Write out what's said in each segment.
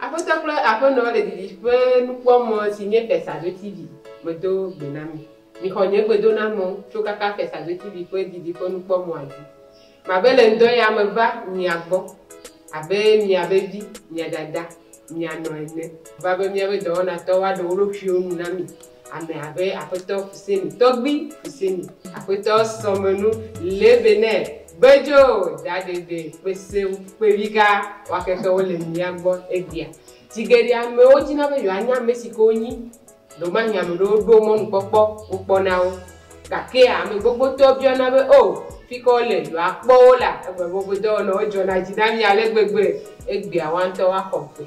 Aƒetɔ kple Aƒenɔ le didiƒe nukpɔmɔ si nye Fɛsado TV medo gbe na mi. Mixɔ nye gbedonamɔ tso kaka Fɛsado TV ƒe didiƒe nukpɔmɔa dzi. Mabe le ŋdɔ ya me va mia gbɔ abe miabe vi, mia dada, mia nɔ ene. Meva be miabe dɔwɔnatɔwo aɖe wo ɖokuiwo nu na mi. Ame abe Aƒetɔ Fuseni, Tɔgbui Fuseni, Aƒetɔ Sɔmenu, Lebenɛ, Gbedzo, Dadebe, Kpesewu, Kpeviga, waketɔwo le mía gbɔ egbea. Zi geɖe amewo dina be yewoanya ame si ke wonyi. Ɖewomahi ame ɖewo ɖo mɔnukpɔkpɔ wokpɔ na wo. Gake ame gbogbotɔ biana be, O, fi ka wole? Yewoakpɔ wo la? Egbe be woƒe dɔwɔnawo dzɔna dzi na mí ale gbegbe. Egbea woawo ŋutɔ woaxɔ gbe.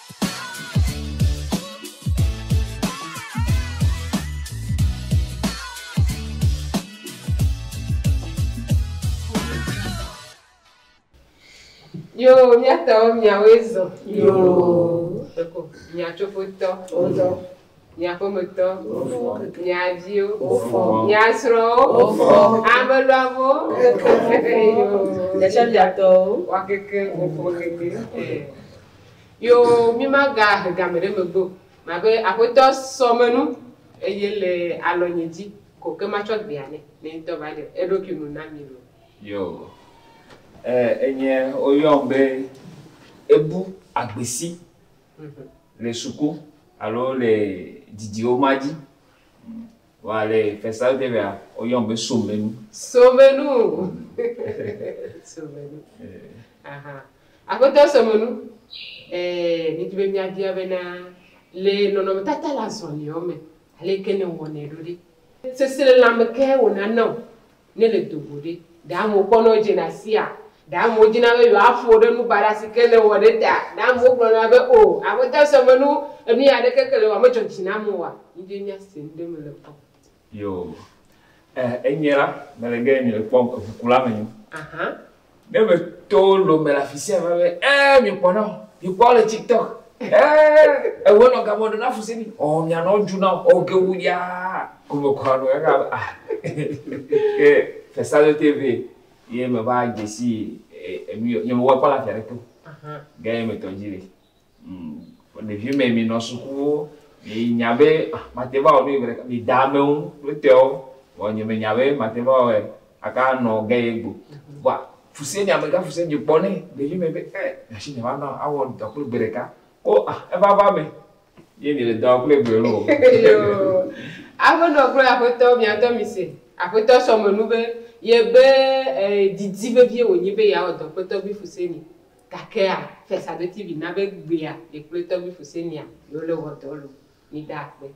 Yo, míatɔwo miawoe zɔ. Yo. Ɖeko miatsofotɔ. Wozɔ. Mia ƒometɔ, mia viwo, mia srɔ̃wo, ame luamewo, mia tɔgbuitɔwo, woakeke wo ƒe ʋeʋẽ. Yo mimagahe game ɖe megbe o. Mabe, Aƒetɔ, sɔ menu, eye le alɔnye dzi ko ke matsɔ gbea nɛ. Nɛ ŋutɔ va ɖe eɖokui nu na mi loo. Yo enye woyɔm be ebu agbesi. le suku alo le didiwo ma dzi. Vɔa le Fɛsawudɛ mea, woyɔm be Somenu. Somenu! Somenu. Aha. Aƒetɔ Somenu, ɛɛ, mìdi be mìabia bena, le nɔnɔmetata le azɔliawo me, aleke nèwɔnɛ ɖo ɖe? Seselelãme kae wònana wò Ne èle do go ɖe, ɖe amewo kpɔna wò dzena asia? Ɖe amewo dina be yewoaƒo wò ɖe nu baɖa si ke nèwɔ ɖe ta? Ɖe amewo gblɔna be, O, Aƒetɔ sɔ me nu, enu ɣi aɖeke ke le ewɔa medzɔ dzi nam oa? Míɖee míase nu ɖe eme le kpɔ. Yoo, e, enyee la, mele ge nye kpɔ eŋukula menyo. Ahan, Ne me to lo me le afisia va be ɛ mi kpɔ nɔ mi kpɔ le tiktok ɛ ewo nɔ gamɔ ɖe na fuse mi ɔ mia nɔ ju na ɔ ge wu ya ko me kɔ nɔ ɛga be ah ke fesa lo te ve ye me va jesi enu yɔ nye me wɔ kpɔ la fia ɖe ke o gɛ me tɔ dzi le. Ɖeviwo me mi nɔ sukuwo mi nya be mate va wɔ nu yi gbeɖeka mi da amewo ŋu kple tɔwo vɔ nye me nya be mate va wɔe aka nɔ ge ye gbo vɔa fuse nye amega fuse nye kpɔ nɛ ɖevi me be e nyashi nye va nɔ awɔ dɔ kple gbeɖeka wo a eva va me ye mi le dɔ kple gbe lo aƒe nɔ kple aƒetɔ mi atɔ mi se aƒetɔ sɔ me nu be ye be e didi vevie wonyi be ya wɔ dɔ kpetɔ vi fuse ni Gakea, Fiasaɖuti vi na be gbea ye kple tɔgbi Fusenia yewo le wɔ dɔ lo. Mida akpe.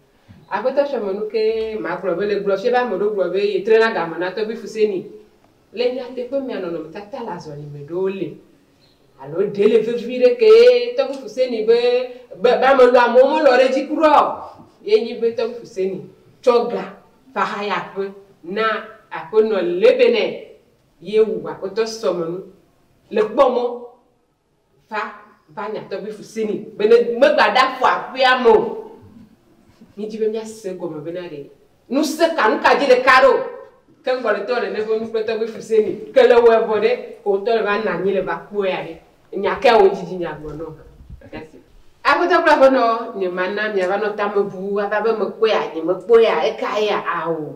Agbetɔ tsɔ me nu ke ma gblɔ be le gblɔ fie be ame ɖewo gblɔ be ye tre na game na tɔgbi Fuseni. Le nyateƒe mea nɔnɔme tata le azɔli me ɖewo le. Alo ɖe le vevi ɖe ke ye tɔgbi Fuseni be be be ame lo amewo me lɔ ɖe dzi kura o. Ye nyi be tɔgbi Fuseni tsɔ ga va haya aƒe na aƒenɔ Lebenɛ. Ye wu Akpetɔ Sɔmenu le kpɔ mɔ va va nya tɔgbi fuse ni be ne megba ɖa fɔ aƒea me o. Mi dji be mia se egɔme be na ɖe nu se ka nu ka dji le ka ɖo ke ŋgɔ le tɔ le ne ƒe nu kple tɔgbi fuse ni ke le wɔ vɔ ɖe ko ŋtɔ le va nanyi le va kpɔe ya ɖe nya kea wo djidji mia gblɔ nɔn ha ɖase. Akpetɔ kple aƒenɔ nye ma na mia va nɔ tame bu ava be me kpɔea nye me kpɔea eka yea? Ao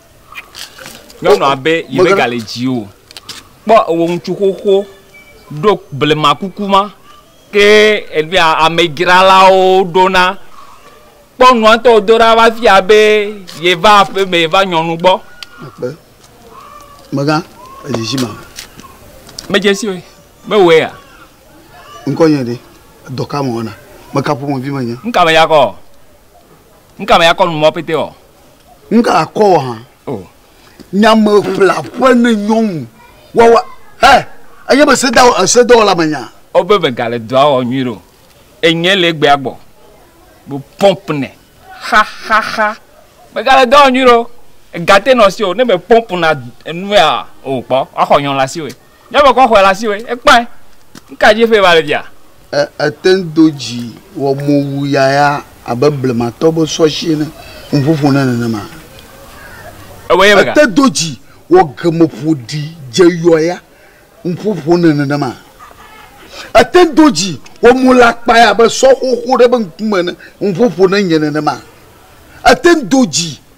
Nyɔnua be yemegale dzi o. Kpɔ ewɔ ŋutsu xoxo ɖo blema kuku ma ke enuya amedzralawo ɖona. Kpɔ nua ŋtɔ wodo ɖa va fia be yeva aƒe me va nyɔnu gbɔ. Ekpe. Megã edzidzi ma. Medze si oe. Mewɔe ya. Ŋkɔ nye ɖe. Edɔ ka mewɔna? Meka ƒomevi menye? Ŋka meyakɔ? Ŋka meyakɔ nu mɔ pɛtɛ ɔ? Nga akɔ wɔ hã. Oh. Nyame ƒla ƒe ne nyɔnu. Wawa. Hɛ. Enye be se da ese dɔ la menya. O be be gale dɔ awɔ nyui ro. Enye le gbe agbɔ. Bo pomp ne. Ha ha ha. Be gale dɔ awɔ nyui ro. Gate no si o ne be pomp na nua o kpɔ. Wa xɔ nyɔnu la si o. Ne ebe kɔ xɔe le asi woe, ekpɔe. Nuka dzi ƒee va le fia? E, ete ŋu do dzi wɔ mowuyayaa abe blematɔ be sɔshi ene. Nu ƒoƒo na nenema. Ewɔe eme ka? Ete do dzi wɔ gemeƒoɖi dzeyɔya. Nu ƒoƒo na nenema. Ete ŋu do dzi wɔ mo le akpae abe sɔxoxo ɖe be ŋkume ene. Nu ƒoƒo na nye nenema. Ete ŋu do dzi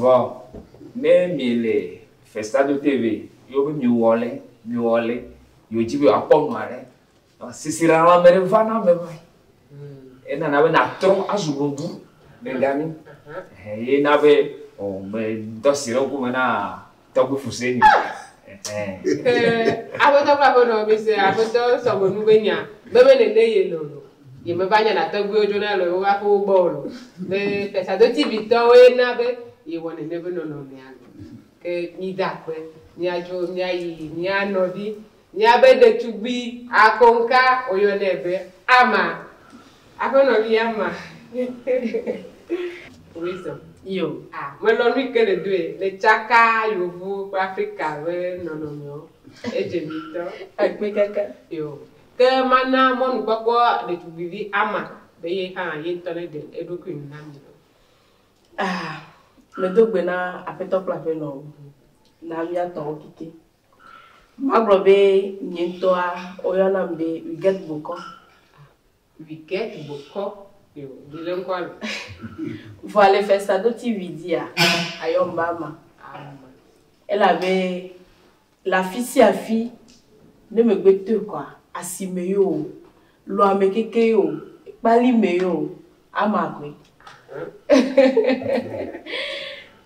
Vɔ, ne mìle festa do te vɛ yɔ be mìwɔ lɛ, mìwɔ lɛ, yio dzi be yewoakpɔ nu aɖe, sisiɖaɖa me ɖe va na ame ma. Enana be nàtrɔ azu nɔvi le gamɛ. Ye na be, ɔ, medɔ asi ɖe ŋkume na Tɔgbe fuse mi. Aƒetɔ kple aƒenɔ mi se aƒetɔ sɔgbe nu be nya bebe nene ye lolo. Ye me va nya na tɔgbewo dzo na lolo va ƒe wo gbɔ o lo. Be fesado TV tɔ wo ye na be ye wɔ nene be nɔnɔ mea lo. Ke mi da kpe mia dzo mia yi mia nɔvi Míabe ɖetugbui akoŋka woyɔnɛ be Ama. Aƒenɔ vi Ama. Wisdom. Yo. A. Melɔ̃ nu yi ke nèdoe. Nètsaka Yevuwo kple Afrika ƒe nɔnɔmewo. Edze mi ŋutɔ. Ekpe keke. Yo. Ke mana mɔnukpɔkpɔ ɖetugbuivi Ama be ye hã ye ŋutɔ neɖe eɖokui nu na mi o. A. Medo gbe na Aƒetɔ kple Aƒenɔwo. Na míatɔwo keke. Magblɔ be nye ŋutɔa woyɔnam be Wigɛt Bokɔ. Wigɛt Bokɔ, yoo ɖi le ŋkɔa me. Vɔa le fɛsadoti wi dzia, ayɔm be ama. Ama. Elabe le afisiafi ne megbetoe kɔa, asime yoo, lɔame keke yoo, kpalime yoo, Ama koe.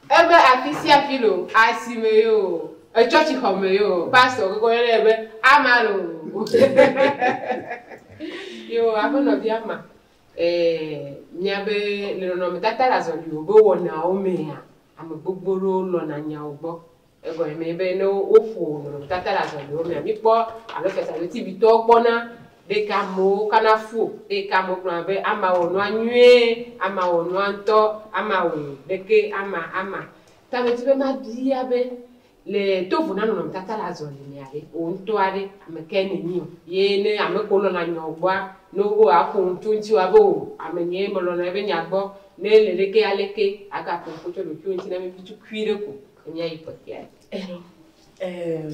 Ebe afi sia afi lo, asime yo, etsɔtsixɔme yo, pastor gbogbo yɔ nɛ be ama lo. Yo, aƒenɔvi ama, eh, mia be le nɔnɔmetata le azɔliwo be wɔnawo mea, ame gbogbo ɖewo lɔna nyawo gbɔ. Egɔme nye be ne woƒo nɔnɔmetata ɖe agbalẽwo mea, míkpɔ alo fiasãnu TV-tɔwo kpɔna ɖe ke amewo kana fu eye ke amewo gblɔna be ama wɔ nua nyuie, ama wɔ nua ŋutɔ, ama wɔe ɖe ke ama ama. Ta medi be mabia be, le to vo na nɔnɔmetata le azɔli mea ɖe, wò ŋutɔ aɖe ame kae nènyi o? Ye ne ame kewo lɔ̃na nyawo gbɔa, ne wobe woaƒo nu tso eŋuti woabe oo, ame nyee melɔ̃na ebe nya gbɔ, ne ele ɖe ke aleke agaƒo ŋkɔ tso ɖokuiwò ŋuti na mí tutuikui ɖe ko. Wònye yi kpɔtɔea dzi. Ehe, eee,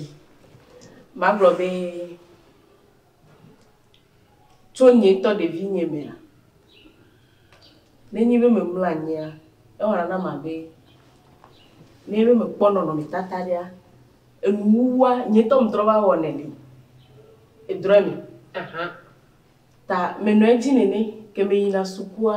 magblɔ be, tso nye ŋutɔ ɖevinyie mea, ne nyi be memlɔ anyia, ewɔna nam abe, nenyi be mekpɔ nɔnɔmetata aɖea, enuwuwua, nye ŋutɔ metrɔ va wɔnɛ le edrɔɛ me. Aha. Ta menɔa edzi nene ke meyina sukua.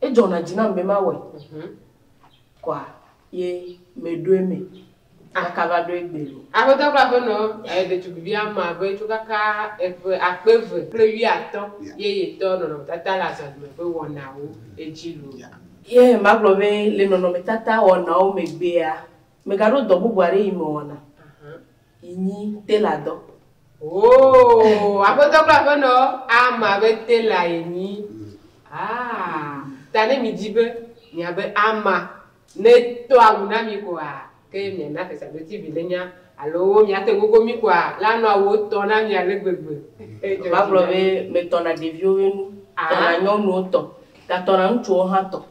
Edzɔna dzi nam be mawɔe kɔa ye meɖo eme makava ɖo egbe o. Aƒetɔ kple aƒenɔ ɖetugbivi ame abe tso kaka eƒe akpe eve kple wuiatɔ̃ ye yetɔ nɔnɔmetata le azɔlime ƒe wɔnawo edzi loo. Ye magblɔ be le nɔnɔmetata wɔnawo megbea, megaɖo dɔ bubu aɖe yi mewɔna. yi nyi tailor dɔ. Ooh aƒetɔ kple aƒenɔ Alma be tailor ye nyi. Aa ta ne mi dzi be mia be Alma ne tɔ awu na mi koa ke mia na fesadoti vi ne nya alo mia te gogo mi koa la nɔ awu tɔ na mi ale gbegbe. Eva gblɔ be me tɔ na ɖeviwo be nu, tɔ na nyɔnuwo tɔ, ga tɔ na ŋutsuwo hã tɔ.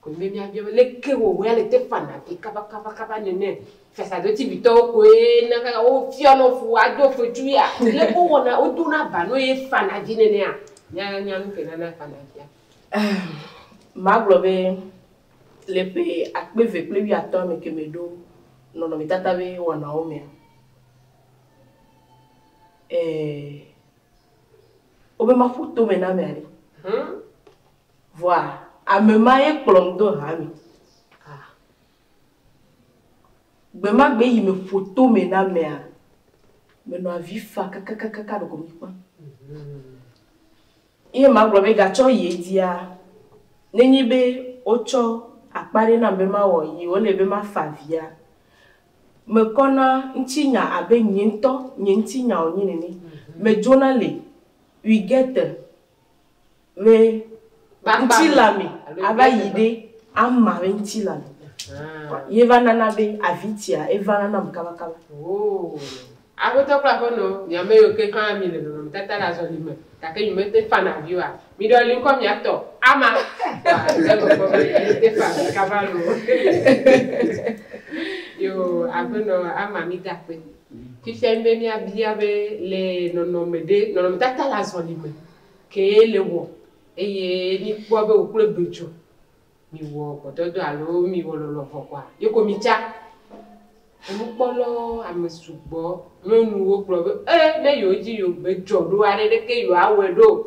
Koe nye míabia be, Leke wɔwɔe ale Stefana ɖi kabakabakaba nene? Fiasã ɖodzivitɔwo koe na kaka wofiɔ nɔ fu ado fetsu ya. Leke wowɔna, wodona ba nɔ ye fana dzi nenea? Míanya nu kae nana fana dzia? Magblɔ be le ƒe akpe eve kple wuiatɔ̃ me keme ɖo nɔnɔmetata ƒe wɔnawo mea, ee, wobe maƒo tomenameaɖe Vɔa ame ma ye kplɔm do hame. A. Gbemagbe yi meƒo tome na amea, menɔ avi fa kakakaka ɖeko mikpã. Ye magblɔ be gatsɔ yi edzia, nenye be wotsɔ akpa ɖe nam be mawɔ yi wole be mafa avia, mekɔ na ŋutinya abe nye ŋutɔ nye ŋutinya wònye nene. Medzona li, we get the. Me ŋuti la me ava yi ɖe ama me ŋuti la me. Ye va nana be avi tia eva na nam kabakaba. Aƒetɔ kple aƒenɔ, mi ame yiwo ke hã mi le nɔnɔmetata le azɔli me gake mi mete fana avi oa, miɖɔ li ŋkɔ miatɔ ama. Ate ŋu kpɔ be mete fa avi kaba loo. Yoo, aƒenɔ ama mi da akpe. Fifia nye be míabia be, le nɔnɔme ɖe, nɔnɔmetata le azɔli me kee le wɔ eye míkpɔa be wòkplɔe do dzo, mìwɔ gbɔdɔdɔ alo mìwɔ lɔlɔ̃vɔ kɔa? Yeko mìtsa. Enukpɔ lɔ ame sugbɔ nyɔnuwo gblɔ be, E, ne yewodzi yewogbe dzɔ ɖoa, ɖeɖeke yewoawɔe ɖo o.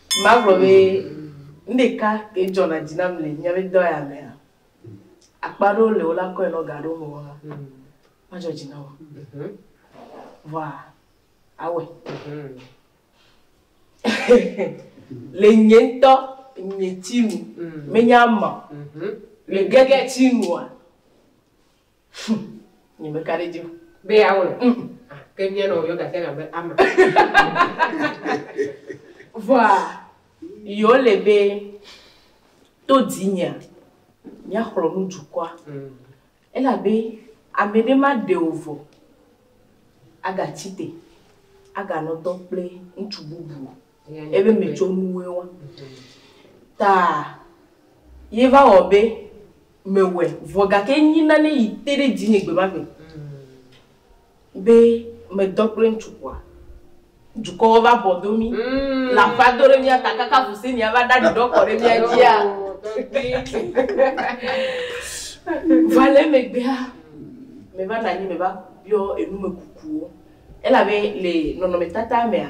Magblɔ be nu ɖeka ke dzɔna dzi nam le míabe dɔ ya mea, akpa aɖewo le wola kɔe nɔ ga aɖewo me wɔna, madzɔ dzi nam o. Vɔa awɔe. Le nye ŋutɔ nye tsi nu, menya ama o. Le gege tsi nua, Hm, nye me ka ɖe dzi o. Be ya wɔ le? Hm. Ah, ke mía nɔ yɔ gafia gã be ama. Vɔa, yɔ le be to dzi nyea, mía xlɔ nu dukɔa. Hm. Ela be ame ɖe ma ɖe o vɔ, aga tsi te, aga nɔ dɔ kple ŋutsu bubu. Ebe metsɔ nuwɔe wa ta ye va wɔ be mewɔe vɔ gake enyi nane yi te ɖe dzinye gbemagbe be medɔ kple ŋutsu kpɔa, dukɔwo va bɔ do mí, le aƒea do ɖe mía ta kaka Husenia va ɖa ɖiɖɔ kɔ ɖe mía dzia. Vɔa le emegbea, meva nɔ anyi meva biɔ enumekukuwo elabe le nɔnɔmetata mea,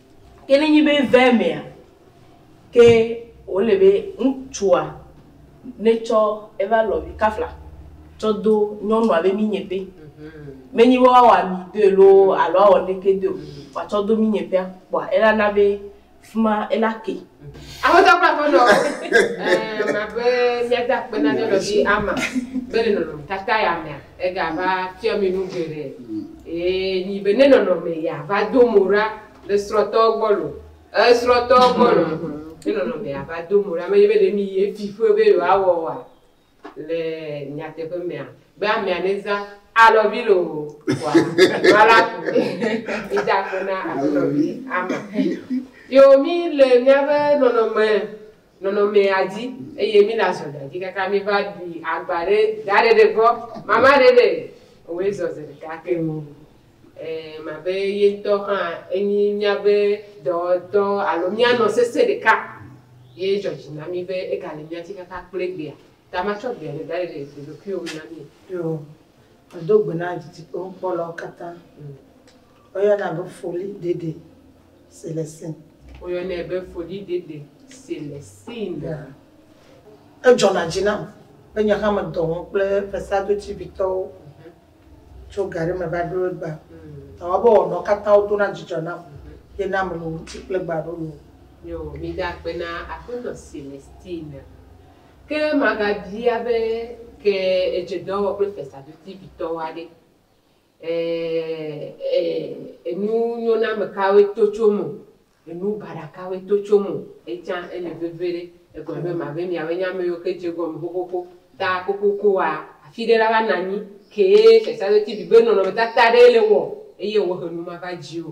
Ke ne nyi be ve mea, ke wole be ŋtsua ne tsɔ eva lɔvi kafla tsɔ do nyɔnua be minye ƒe. Me nyi be woa wɔ ami doe loo alo woa wɔ neke doe o, woa tsɔ do minye ƒea kpɔa ela na be fima ela ke. Aƒetɔ kple aƒenɔwo, ɛɛ, ma be mía de akpe na mía nɔvi Alma be le nɔnɔme tata ya mea, Ega va fiɔ mi nu geɖe, eye nyi be ne nɔnɔme ya va do mo ɖa le srɔtɔwo gbɔ lo, e srɔtɔwo gbɔ lo, ne nɔnɔme ya va do mo ɖa, menye be ɖe mi ye fi ƒe be yewo a wɔ wa le nyateƒe mea, be amea ne za alɔvi lo o kɔa, nua la ku ɖe, mi da akpe na aƒenɔvi ama. Yo mi le miabe nɔnɔme nɔnɔmea dzi eye mi la zɔ ɖe edzi kaka mi va ɖi agba ɖe daɖe ɖe gbɔ mama ɖe ɖe oe zɔ ze ɖeka keŋ o e ma be ye ŋtɔ hã enyi mia be dɔ dɔ alo mia nɔ sese ɖeka ye dzɔ dzi na mi be ega le mia ti kaka kple gbea ta ma tsɔ gbea ɖe daɖe ɖe ɖoɖokuiwo me na mi o. Yo, me do gbe na dzidzikpɔkpɔ lɔwo kata. Woyɔnɛ be foli ɖeɖe si le sin. Woyɔnɛ be foli ɖeɖe si le sin. Edzɔna dzi nam be nye hã medɔ ŋu kple Vesadotivitɔwo tso ga ɖe me va ɖo egba. Ta woa be wɔnɔ katã wo dona dzidzɔ nam ye na meno ŋuti kple gba ɖo lo. Yo, mi da akpe na Aƒetɔ Celestine. Ke maga bia be ke edze dɔ wɔ kple Vesadotivitɔwoa ɖe? Ɛɛ, enu nyoname kawoe to tso eme o, enu baɖa kawoe to tso eme o. Etsã ele veviɖe. Egblɔ be, Mabe miawoe nye ame yiwo ke dze egɔme xoxoxo ta kokokoa, afi ɖe la va nɔ anyi kee fiafiaɖoti bibe nɔnɔmetata aɖee le wɔ eye wòhe nu mava dziwò.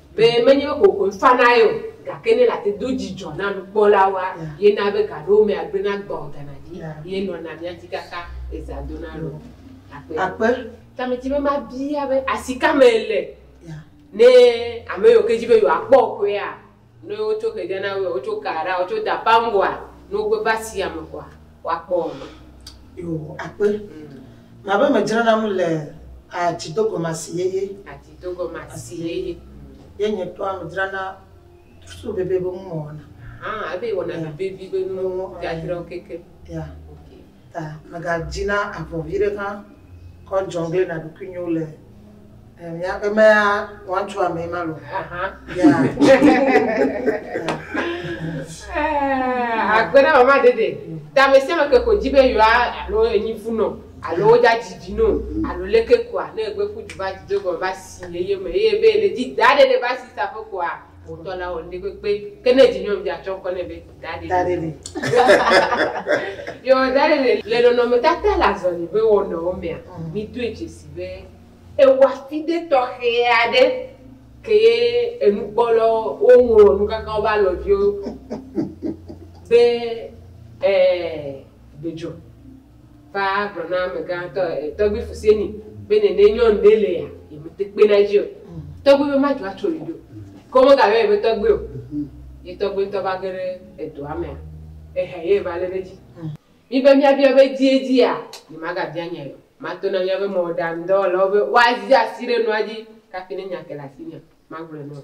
Be menye be kokoe fana ye o, gake ne ele ate do dzidzɔ na nukpɔlawoa, ye na be gaɖewo mea gblẽ na gbɔ gana dzi ye nɔna mía si kaka ɣe zã dona ɖo. Akpe. Ta medi be mabia be asi ka me le ne ame yiwo ke di be yewoa kpɔ ƒea, ne wotso xedia na woea, wotso ka ɖa, wotso da paŋgoa, ne wogbe va asia me kɔa? woakpɔ o. Yo, akpe. Mabe medzranam le atsidogɔmasi yeye. Atsidogɔmasi yeye. Ye nye tɔa medzrana so vevi be nu mewɔna. Ah, ebe yewɔna nu vevi be nu dzadzrawo keke. Ya. Ta megadina avɔ viɖe hã kɔ jɔngle na ɖokuinyewo le. Eh, míaƒe mea woatso amee ma lo akpe na mama ɖeɖe ta ame sia ame ke ko dzi be yewoa alo enyi fu nɔ alo wodza dzidzi nɔ alo leke koa ne egbe ƒu du va dzi do gɔme va si eye me eye be le dzi da ɖeɖe va si sa ƒe koa Wotɔ la wɔ nuɖe kpekpe. Ke ne vinyɔnuvia tsɔ ŋkɔ nɛ be Dade. Dade li. Yewo Dade li. Le nɔnɔmetata le azɔli ƒe wɔnawo mea, mm. mídoe dzesi be ewɔafide tɔxɛ aɖe kee enukpɔlawo woŋlɔ nu kaka woƒe alɔviwo be ee eh, dedzo. va gblɔ na amegã tɔ e, tɔgbui Fuseni be nene nyɔnu ɖe le ya yi me te kpe na edzi o. Tɔgbui be madzo atso yi ɖo. Ke wo mega yɔ yi be tɔgbui o. Ye tɔgbui ŋutɔ va ge ɖe edɔa mea ehe ye va le ɖe edzi. Mi be mia bia be dzie dzia nye maga bia nya yi o. Ma to na mia be mɔɖaŋu dɔwɔlawo be woa zia asi ɖe nua dzi kafi ne nya ke le asi nye ma gblɔe na wo.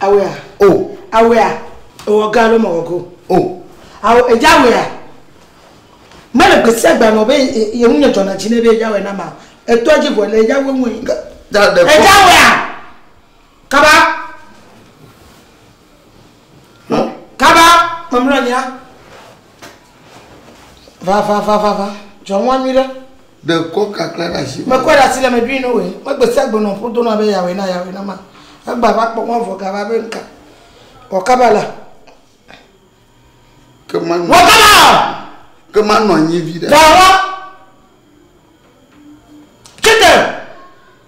Awea. O. Awea. Ewɔ ga alo mewɔ go. O. Awo edze awea. Mele gbe sia gbe nɔ be ye ŋu nye dzɔna dzi ne be edze awea na ma. Eto edzi vɔ le edze awo ŋu. Edze awea. Kaba. Kaba. Mamlɔ nya. Va, va, va, va, va. John wa nyui ɖe. Ɖe kɔ kakla ɖe asi. Mekɔe ɖe asi le me ɖui no wòe. Megbe sia gbe nɔ ƒo dona be yawɔe na yawɔe na ma. Egba va kpɔ ŋɔ vɔ gava be nuka. Wɔkaba la. Ke ma nɔ. Wɔkaba! Ke ma nɔ anyi vi ɖe. Gawa! Chete!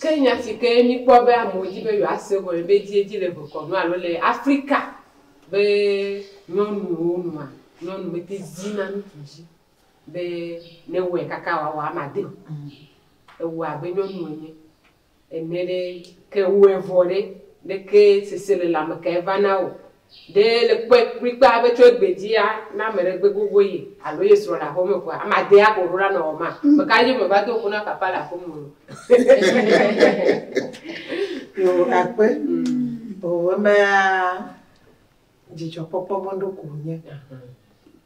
Ke nya si ke míkpɔ be amewo di be yewoase gɔme veviedzi le vekɔnu alo le Afrika be nyɔnuwo nua, nyɔnu mete dina ŋutsu dzi be newɔe kaka wòawɔ ame ade o. Ewɔa abe nyɔnu ene ene ɖe. Ke ewɔe vɔ ɖe, leke seselelãme kae vana o? Ɖe èle kpɔe kplikpaa be tso egbe dzia, ne ame ɖe gbe gogo ye alo ye srɔ̃ le aƒe me koa, ame adee aƒo ɖo la nɔ wɔ ma? Ame kae dzi meva do ŋku na papa le aƒe me o? O akpe. O emea dzidzɔkpɔkpɔ mɔɖo ko wònye.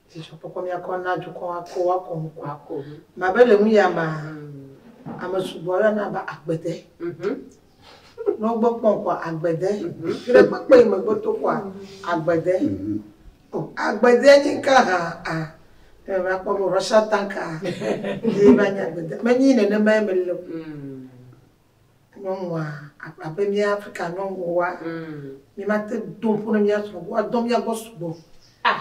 Dzidzɔkpɔkpɔ míakɔ na dukɔ akɔ woakɔ ŋku akɔ. Mabe le nu ya mea, ame sugbɔ aɖe na be agbede. Nɔ gbe kpɔn kɔa agbede. Ɖe gbe kpɔn yi me gbe to kɔa agbede. O agbede nyi ŋka ha a. Ɖe va kpɔ be Russia tank a ye va nyi agbede. Me nyi nenema ye me le o. Nyɔnua abe mía Afrika nyɔnuwoa mí ma te do ŋƒo ne mía srɔ̃ go woa dɔ mía gbɔ sugbɔ. Ah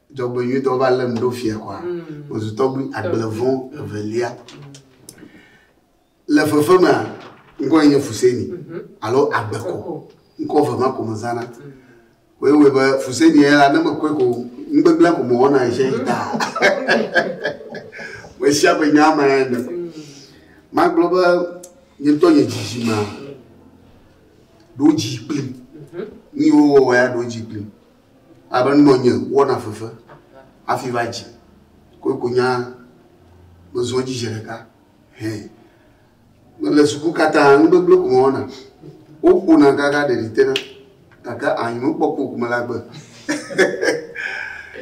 Dzɔgbenyuitɔ va lém ɖo fia kɔa? Mezu tɔgbui agblevɔ evelia. Le fefe mea, ŋkɔ nye Fuseni alo Agbeko. Ŋkɔ ve ma ko mezãna. Koe wɔe be Fuseni ya la, ne mekɔe ko nugbegblẽ ko mewɔna ɣesia ɣi taa. Ƒe sia ƒe nya ma ene. Magblɔ be nye ŋutɔ nye dzidzimea ɖo dzi kplim. Nu yiwo wowɔ ya ɖo dzi kplim. Abe nɔ nye wɔna fefe hafi va dzi koe ko nya mezɔ edzi zi ɖeka hɛ. Mele suku katã nu gbegblẽ ko mewɔna. Woƒona kaka ɖeɖi tena gake anyinokpɔkpɔ ko mele agbe.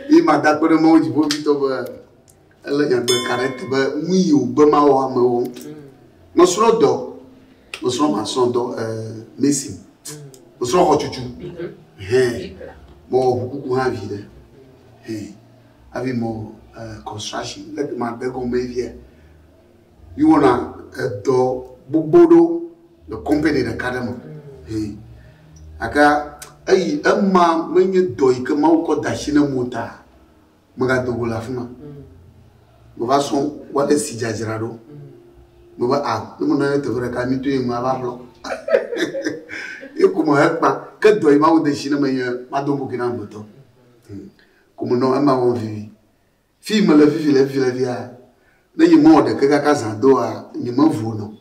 Ye mada akpe ɖe Mawu Dziƒoʋĩtɔ be Ele nyagbe ka ɖe te be nu yi wògbe mawɔ ame wɔ ŋutɔ. Mesrɔ̃ dɔ, mesrɔ̃ masrɔ̃ dɔ mesi, mesrɔ̃ xɔtutu, hɛ mewɔ ʋukuku hã vi ɖe, hɛ hafi mewɔ construction le te ma de gɔme via. Mi wɔna edɔ gbogbo ɖo le company ɖeka ɖe me, hɛ gake eyi ema menye dɔ yi ke Mawu kɔ da shi ne ŋuta. Megado go le afi ma. Meva srɔ̃ wale si dzadzra ɖo. Meva a ah, ne menɔ anyi teƒe ɖeka mi doe ŋu ava ƒlɔ. Ye ko me hekpa ke dɔ yi mawu de si ne menye mado go ke na ŋutɔ. Hmm. Ko menɔ ema wɔm vivi. Fi mele vivi le vivi le via ne yi mɔ ɖeke kaka zã doa nyi me vu nɔ.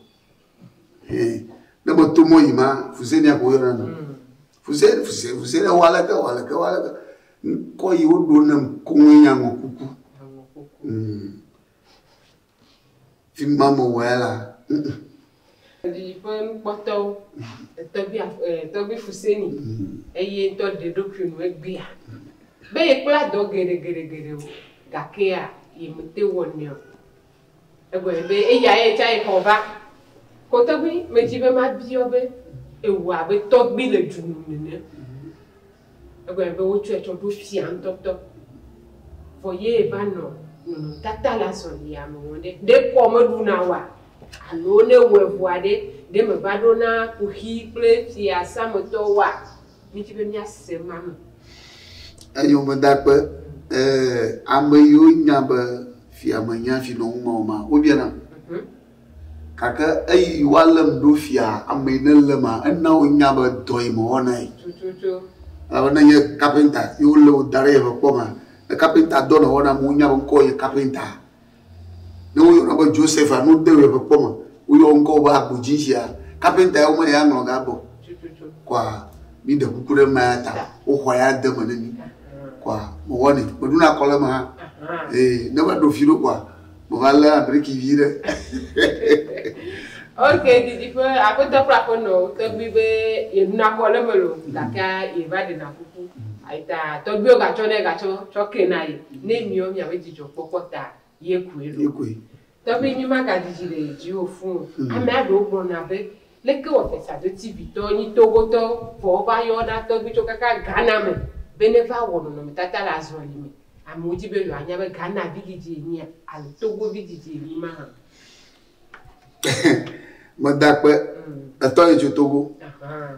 ne meto mɔ yi ma fusenia ko yɔna nu mm. fusenia fusenia fusenia wa leke wa leke wa leke ŋkɔ yi woɖo ne koe nya ŋɔ kuku mm. fi ma me wɔ ya la didiƒe nukpɔtɔwo tɔgbi tɔgbi fuseni mm. eye ŋutɔ ɖe ɖokui nu egbea be yekpla dɔ geɖe geɖe geɖewo gakea yemete wɔnɛ o Egblɔe be eya ye tsa yekɔ va. Ko tɔgbi medzi be mabiɔ be ewɔ abe tɔgbi le dzu nu nene. Egblɔe be wotsɔe tsɔ ɖo fia ŋutɔtɔ. Vɔ ye va nɔ nɔnɔtata le azɔlia me wɔm ɖe, ɖe kɔ meɖu na woa? Alo ne ewɔe vɔa ɖe, ɖe meva ɖo na kuxi kple fiasãmetɔwoa? Míedi be míase ema me. Enyɔmedakpe, Ee, ame yiwo nya be fia menya fi nɔm ŋmɛ o ma, wobiana. Gake eyi woalém ɖo fia ame yi nelém ma, ena wonya be dɔ yi mewɔ na ye. Tututu. Elabe ne nye kapenta ye wolé wò da ɖe yeƒe kpɔ mea, ne kapenta dɔ nèwɔ na ame wonya be ŋkɔwò nye kapenta. Ne woyɔna be Joseph alo wode ʋe ƒe kpɔ me, woyɔ ŋkɔ wò be agbodzi sia, kapenta ya womele ya ŋlɔ ga gbɔ. Kɔa, mi ɖe kuku ɖe maya ta, woxɔa ya de me ne mi. Kɔa, me wɔ ne, me ɖu na kɔ le me hã. Ee, ne va ɖo fi ɖo kɔa, me va le abriki vi ɖe. Ok, didi ƒe aƒetɔ kple aƒenɔ, tɔgbui be ye ɖu na kɔ le me lo, gake ye va ɖe na kuku. Ayita tɔgbui wo gatsɔ ne gatsɔ, tsɔ ke na ye. ne miɔ mia be dzidzɔ kpɔkpɔ ta ye koe ɖo. Ye koe. Tɔgbi mi ma ga dzidzi le dzi wo fũ o. Amea ɖewo gblɔ na be, leke wɔ fesa do TV tɔ nyi Togo tɔ vɔ wo va yɔ na tɔgbi tso kaka Ghana me be ne va wɔ nɔnɔme tata le azɔli me. Amewo dzi be yewoa nya be Ghana vi dzidzi enyia alo Togo vi dzidzi enyi ma hã. Meda kpe etɔ yi tso Togo. Ahaa.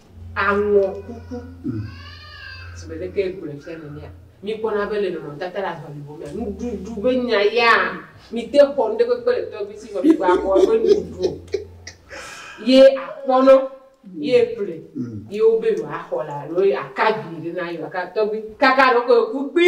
Aŋɔ kuku. Zi me ɖe ke ye gblɔe fia nenea? Mi kpɔna be le nɔnɔ tata la ŋa nugo mea, nuɖuɖu be nya ya, mi te xɔ nuɖe kpekpe le tɔgbi si vɔ mi gba xɔ ebe nuɖuɖu ye a kpɔ nɔ ye ƒle ye wo be yewo a xɔ la alo ye a ka vi ɖe na ye wa ka tɔgbi kaka ɖe wo ke yo ku kpi.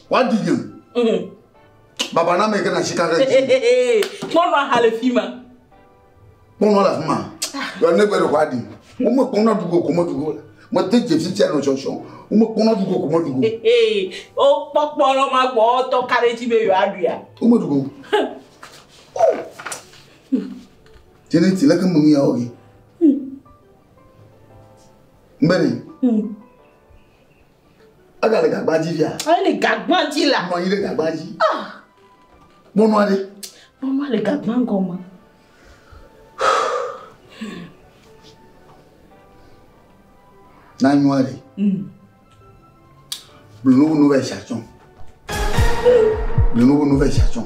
Wadi nye. Mm. Baba na me ke na sika ɖe. Kpɔnɔ aha le fi ma. Kpɔnɔ le fi ma. Yɔ ne gbe ɖe wadi. Wo me kpɔnɔ dugo ko me dugo. Me te je fi tia no sɔsɔ. Wo me kpɔnɔ dugo ko me dugo. O kpɔkpɔ lɔ ma gbɔ tɔ ka ɖe ti be yɔ aɖu ya. Wo me dugo. Jene ti le ke mu ya oge. Mbere. Mm. Egale gagba dzi fia. Ele gagba dzi la. Nɔ anyi ɖe gagba dzi. Ah. Mɔnua ɖe. Mɔnua le gagba gɔme. Nanua ɖe. Mm. Blunu nu bɛ shatɔn. Blunu nu bɛ shatɔn.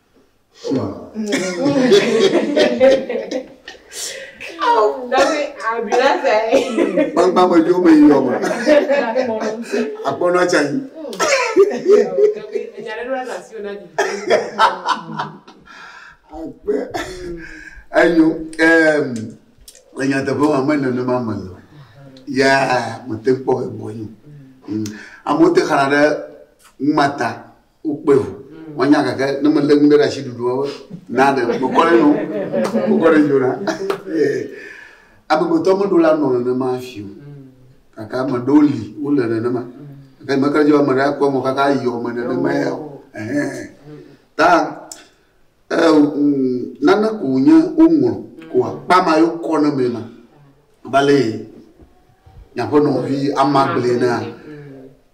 Gbangba me jo me yɔ me. Akpɔnɔ tsa yi. Akpe. Eyo. Le nyateƒe ma me nenema me le. Ya mete kpɔ egbɔ yi. Amewo te xana ɖe ŋmata. Wokpe ŋu. Woanya gake ne melé nu ɖe ɖe asi ɖuɖu woawo na ɖe mekɔ ɖe nu mekɔ ɖe dzona. Amegbetɔ meɖo la nɔ nenema fi o. Kaka ame ɖewo li wole nenema. Gake mekle dzi be ame ɖe akɔ mo kaka yɔ me nenema ya o. Ɛhɛn. Ta Nane ko wònye woŋlɔ ko akpa ma yo kɔ ne me ma bale nyaƒe nɔvi ama gblẽ na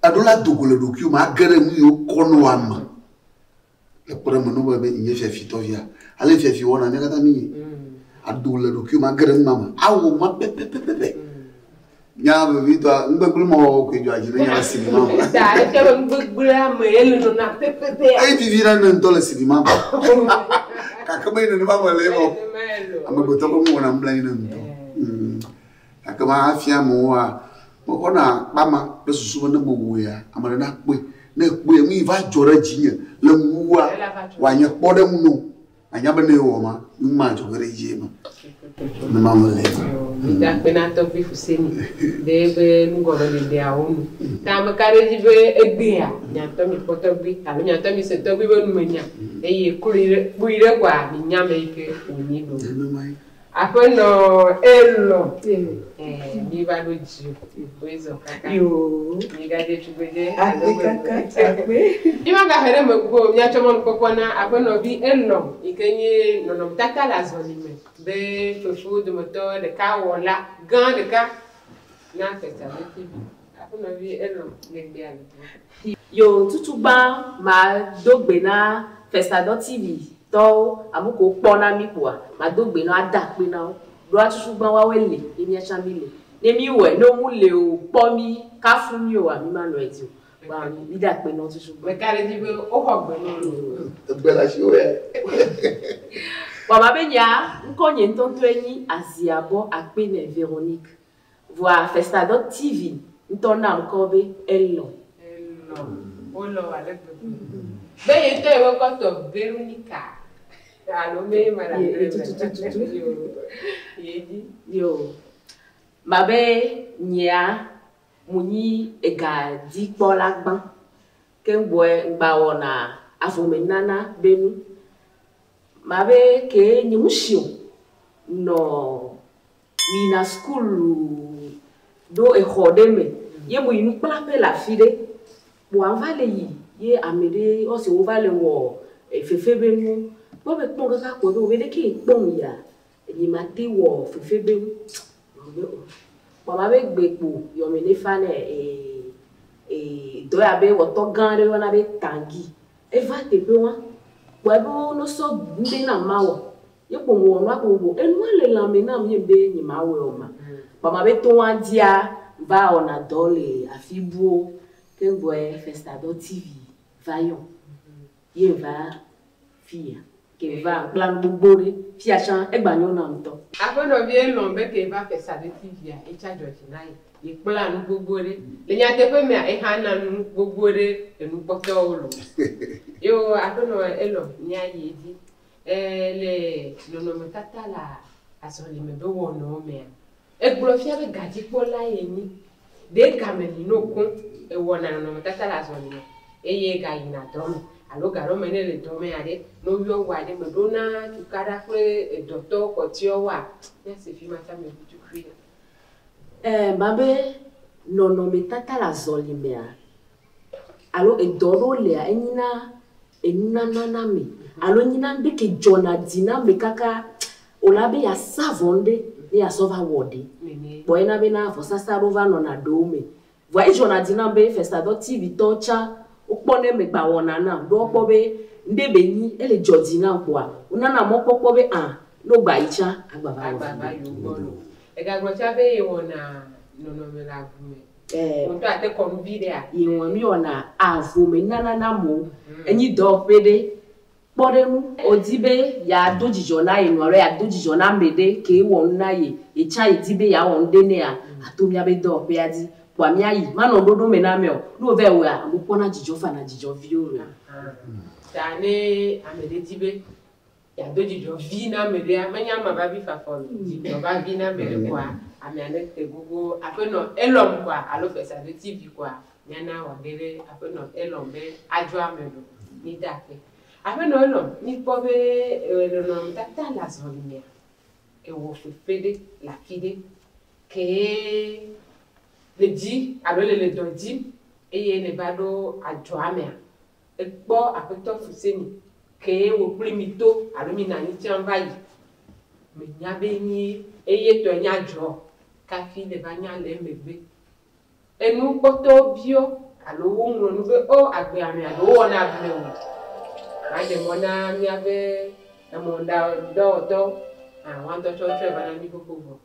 eɖo la dogo le ɖokuiwo me age ɖe nu yiwo kɔ ne wa me le kpɔ ɖe me nɔbe be nye fiafi tɔvia ale fiafi wɔna nye katã mi aɖo le ɖokuiwo me age ɖe nu ma me awɔ ma pɛpɛpɛpɛ Nya vevitɔa, nugbegblẽ me wɔwɔ koe dzɔa dzi ne nya le sinima me. Da ete be nugbegblẽa me ye le nɔna pɛpɛpɛ. Eyi vivi na ne ŋutɔ le sinima me. Gake menye nenema me le eme o. Amegbetɔ ƒe nuwɔna mebla anyi nam ŋutɔ. Mm. Gake mafia amewoa, mexɔna kpama kple susu be ne mewɔea, ame aɖe nakpɔe. Ne ekpɔe, nu yi va dzɔ ɖe dzinye le ŋuwòa, wòanye kpɔɖeŋu na wo. Anya be ne yewɔ ma, nu ma dzɔ ge ɖe edzi eme. Ne ma mele eme. Migakpe na tɔgbui Fuseni ɖe eƒe nugɔmeɖeɖeawo nu. Ta ame ka ɖe edzi be egbea? Miatɔ mikpɔ tɔgbui alo miatɔ mise tɔgbui ƒe numenya, eye kloe ɖe, kpui ɖe koa minya ame yi ke wònyi ɖo. Nenemae. Aƒenɔ elɔ te mi. Ɛɛ mi va ɖo dzi o. Woe zɔ kaka. Yoo. Mi ga dze tugbedze alo gbegbe. Agbe kaka tsagbe. Mi ma ga he ɖe megbe o. Mia tsɔ mɔnu kpɔkpɔ na aƒenɔ vi elɔ yi ke nye nɔnɔme tata le azɔli me be fefewo dometɔ ɖeka wɔla gã ɖeka na Testamente vi. Aƒemevi Eno le gbea me hã. Yo tutu gbã ma do gbe na fesadɔ TV tɔwo amu ko kpɔ na mi kpoa ma do gbe nɔ ada akpe na wo ɖo a tutu gbã wa we le ye mia tsa mi le ne mi wɛ no mu le o kpɔ mi ka fu mi o a mi ma nɔ edzi o gba mi mi da akpe nɔ tutu gbã. Meka ɖe edzi be wo xɔ gbe nɔ mi o. Egbe le asi wɛ. Wa ma be nyea ŋkɔ nye ŋtɔŋtɔe nyi Aziabɔ akpe nɛ Veronique Vɔa Festadɔ TV ŋutɔ na ŋkɔ be Elon. Elon. Wolɔ wò ale gbegbe. Be ye ŋutɔ yewo kɔ tɔ Veronica alo be ye ma ɖa ŋɖe eme. Tutututu. Yo. Ye dzi. Yo. Ma be nyea mu nyi ega dzi kpɔ la gbã. Ke ŋ bɔɛ ŋ gba wɔna avɔ me nana be nu. Ma be ke nye mu shio nɔ. Miyina sukulu ɖo exɔ ɖe me ye moyi nukplaƒe le afi ɖe. Kpoa ŋva le yi ye ame ɖe yɔ se wova le wɔ fefe be nuwo. Kpɔ be kpɔ kaka kpɔ be obe ɖekee kpɔ ŋ yia, enyi ma te wɔ fefe be nu. Ŋgblɔ be o. Kpoa ma be gbe kpo yɔ me ɖe fa nɛ e e dɔ ya be wɔtɔ gã ɖe yɔna be Tangi. Eva teƒe wa kpɔe be wo no sɔ ŋɖe na ma wɔ. Ye kpo ŋwɔ nua kpo ŋwɔ enua le lãme nam ye ŋbe nye ma wɔe ɔ ma kpa ma be toŋ a dzia va wɔna dɔ le afi buwo ke ŋgbɔɛ festadɔ TV va yɔm ye ŋva fiya ke ŋva kpla nu gbogbo ɖe fiya tsan egba nyɔ nam ŋtɔ. Aƒenɔ vie elɔn be ke va festadɔ TV a etsa dzɔ dzi na ye ye kpla nu gbogbo ɖe le nyateƒe mea exa na nu gbogbo ɖe enu kpɔtɔwo loo. Eo aƒenɔ elɔn mia yi edzi Ẽ, le nɔnɔmetata le azɔlimegbe wɔnawo mea, egblɔ fia be gadzikpɔlae enyi. Ɖe game li nɔ koŋ ewɔna nɔnɔmetata le azɔli me eye egayina dɔ me alo gaɖɔ me ne ele dɔ me aɖe, ne woyɔ ŋgɔa ɖe me ɖona tukaɖa kple edɔtɔ kpɔtɔewoa, míase fima tsã me ʋutuxuia. Ẽ, ma be nɔnɔmetata le azɔli mea, Alo edɔ aɖewo lia, enyina enunana na ame alo enyina ŋɖe ke dzɔna dzi na ame kaka wòle na be yeasa vɔ ŋɖe ne yeasɔ va wɔ ɖe. Kpɔ ena bena vɔsasa aɖewo va nɔna ɖewo me. Vɔa edzɔna dzi nam be Festadɔ TV tɔwo tsã wokpɔ ne megba wɔna nam ɖo woakpɔ be ŋɖe be nyi ele dzɔ dzi nam kpoa wonana mɔkpɔkpɔ be ã ne wogba yi tsã agba va wɔ viɖe. Agba va yi wogbɔ nɔ. Egagblɔ tsã be yewɔna nɔnɔme le avu me. Eh, Wò ŋutɔ ate kɔ nu viɖea? Yehowa nu yɔna avo me nana na amewo. Enyi dɔwɔƒe ɖe. Kpɔ ɖe ŋu. Wòdi be yeado dzidzɔ na ye nɔ alo yeado dzidzɔ na ame ɖe ke wɔ nu na ye. Ye tsã èdi be yeawɔ nu ɖe nɛa? Ato míaƒe dɔwɔƒea dzi. Kpɔa míayi. Manɔ ɖoɖo me na amea o. Ne wòvae wɔea, amewo kpɔna dzidzɔ, fana dzidzɔ vie loo. Ahan. Ta ne ame ɖe di be Yeado dzidzɔ vi na ame ɖea, menye ama va vi fafa o. Dzidzɔ va vi na ame ɖe kɔa, amea ne te gogo. Aƒenɔ Elɔm kɔa alo fesado TV kɔa, míana wɔ ge ɖe Aƒenɔ Elɔm be adzɔ ame ɖo. Mide akpe. Aƒenɔ Elɔm, míkpɔ be ewɔ nɔnɔmetata le azɔlimea? Ewɔ fefe ɖe le afi ɖe ke le dzi alo le le dɔ dzi eye nèva ɖo adzɔ amea? Ekpɔ Aƒetɔ Fuseni kee wòkplɔe mi to alo mi nanyi tsã va yi. Menya be nyi eye tɔe nya dzɔ kafi nèva nya le emegbe. Enu kpɔtɔwo biɔ alo woŋlɔ nu be ɔ agbe amɛ alo wowɔ na amɛ o. Maɖe mɔ na miabe emɔ̃dɔwɔtɔwo hã woaŋutɔ tsɔ wotsɔe va na mí xoxo vɔ.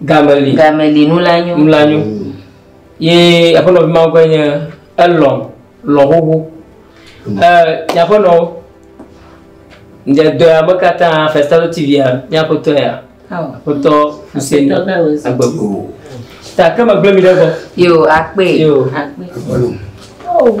Game li. Game li nu la nyo. Nu la nyo. Mm. Ye aƒenɔ vi mawo ƒe nye elɔ lɔ xoxo. Mm. Ɛ nye aƒenɔ nye dɔ ya me katã Festalo TV ya nye aƒetɔ ya. Aƒetɔ Hussein Agbego. Ta ke megblẽ mi ɖe gbɔ. Yo akpe. Yo akpe. Oh.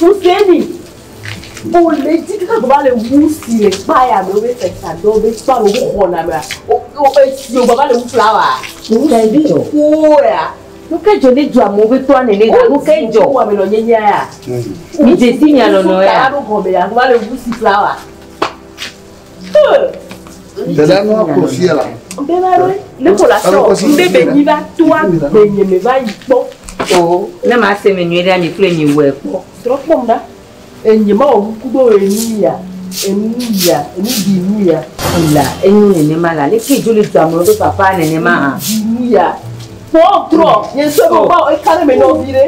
Huseni, o le dzi kaka gɔba le wu si le kpaya me wobe fesa do be kpa me wo xɔna mea o o esi o gɔba le wu flawa. Huseni o o ya. Nu ke dzɔ ne dzɔ amewo be tɔa nene ga nu ke dzɔ. O ame nɔ nye nya ya. Mi dzesi mi alɔnɔ ya. Kaya ɖo gɔme ya gɔba le wu si flawa. Dada nua kplɔ fia la. Ŋbɛ va ɖo ne ko la sɔ ŋbɛ bɛ nyi va toa bɛ nye me va yi kpɔ. O ne ma se me nyuie ɖe ami kple nyi wɛ kpɔ. Trɔ kpɔ ŋda. Enye ma wɔ kuku be wɔ enu ya enu ya enu di enu ya. La enu nene ma la leke jo le dua me be papa nene ma ha. Di enu ya. Kpɔ trɔ nye sɔ be ba eka ɖe me nɔ vi ɖe.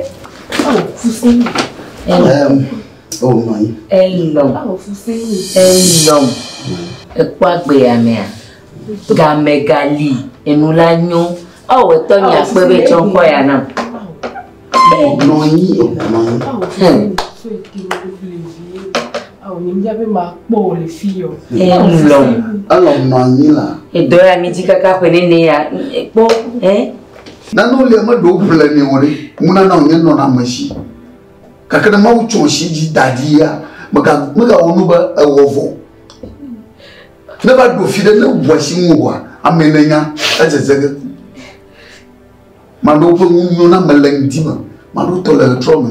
Awo fusi. Ɛm. Oh, nɔ anyi. Elɔ. Elɔ. Ekpɔ agbe ya mea. Game gali. Enu la nyo. Ao etɔ nya kpe be tsɔ ŋkɔ ya na. Nɔ anyi. Nɔ anyi. Ao mi nya be ma kpɔ le fi yo. Elɔ. Elɔ nɔ anyi la. Edɔ ya mi dzi kaka ƒe nene ya. Ekpɔ. Eh. Nanu le me ɖo ble ne o ɖe. Ŋuna na o nye nɔ na me si. Gake ne Mawu tso si dzi da ɖi ya, megawɔ nu be ewɔ vɔ. Ne va ɖo fi ɖe ne ŋua si ŋu oa, ame ne nya edzedze ge. Maɖewo ƒe ŋu nyo na me le ŋdi me, maɖewo tɔ le ɣetrɔ me.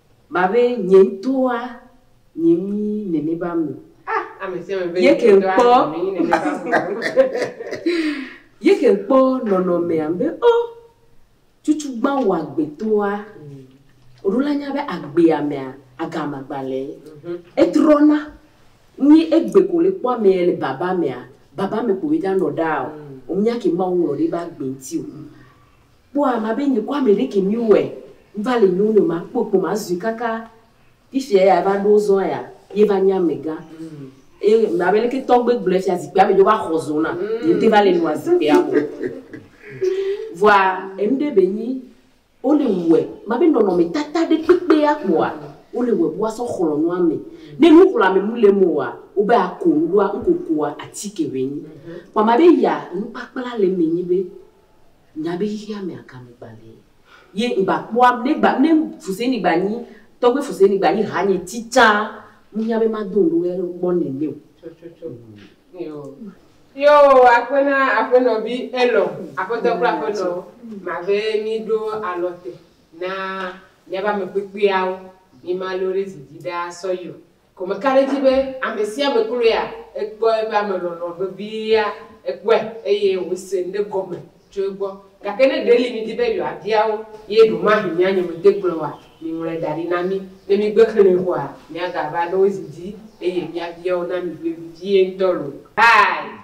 Ma be nye ŋutɔa nye ŋui nene ba me. Ah, ame sia ame be ye ke kpɔ. ye ke kpɔ nɔnɔmea be o oh, cucu gbã wɔ agbetɔa. Oɖo la nya be agbea mea agama gbalẽ. Mhm. Etrɔna. Ni egbe ko le kpɔ ame le baba mea, baba me ko ye da nɔ ɖa o. Omia mhm. ke mawu ŋlɔ ɖe ba gbe ŋuti o. Kpɔ ama be nye kɔ ame ɖe ke mi wɛ ŋva le nyo nɛ ma kpɔ kpɔ ma zui kaka fifia ya eva ɖo zɔa ya ye va nye ame gã ye ma be leke tɔgbe gblɔɛ fia zikpia me dzo va xɔ zo na ye te va le nua zikpia mo vɔa enu ɖe be nyi wo le wɛ ma be nɔnɔ me tata ɖe kpekpe ya kpɔa wo le wɛ bua sɔ xlɔ nua me ne nu xlɔ ame mu le mo wa wo be ako nu ɖoa ŋko koa atike be nyi kpɔ ma be ya nukpakpla le me nyi be Nya be xexea me aka me gbalẽ ye ŋgba kpɔa, ne gba, ne Fuseni gba nyi, tɔgbe Fuseni gba nyi hanye tsitsa, ŋunya be mado ŋɖe wo yalo kpɔ nɛnɛ o. Tsɔtsɔtsɔ. Yo. Yo akpe na Aƒenɔ vi Elɔ, Aƒetɔ kple Aƒenɔ ma be mi ɖo alɔ te na miabe ame kpekpeawo, mi ma lore zi dzi ɖaa sɔ yi o. Gɔme ka ɖe edzi be ame sia ame kloe ya? Ekpɔ eƒe ame lɔlɔ̃ vevia, ekpɔe, eye wòse nu ɖe gɔme tso egbɔ. Gake ne ɖeli midi be yewoabia wo ye ɖemahe mía nye mete kplɔe oa, miŋlɔe da ɖi na mí. Ne mígbe xlẽe koa, míagava ɖo zi dzi eye míabia wo na mi vevie ŋutɔ loo. Hi.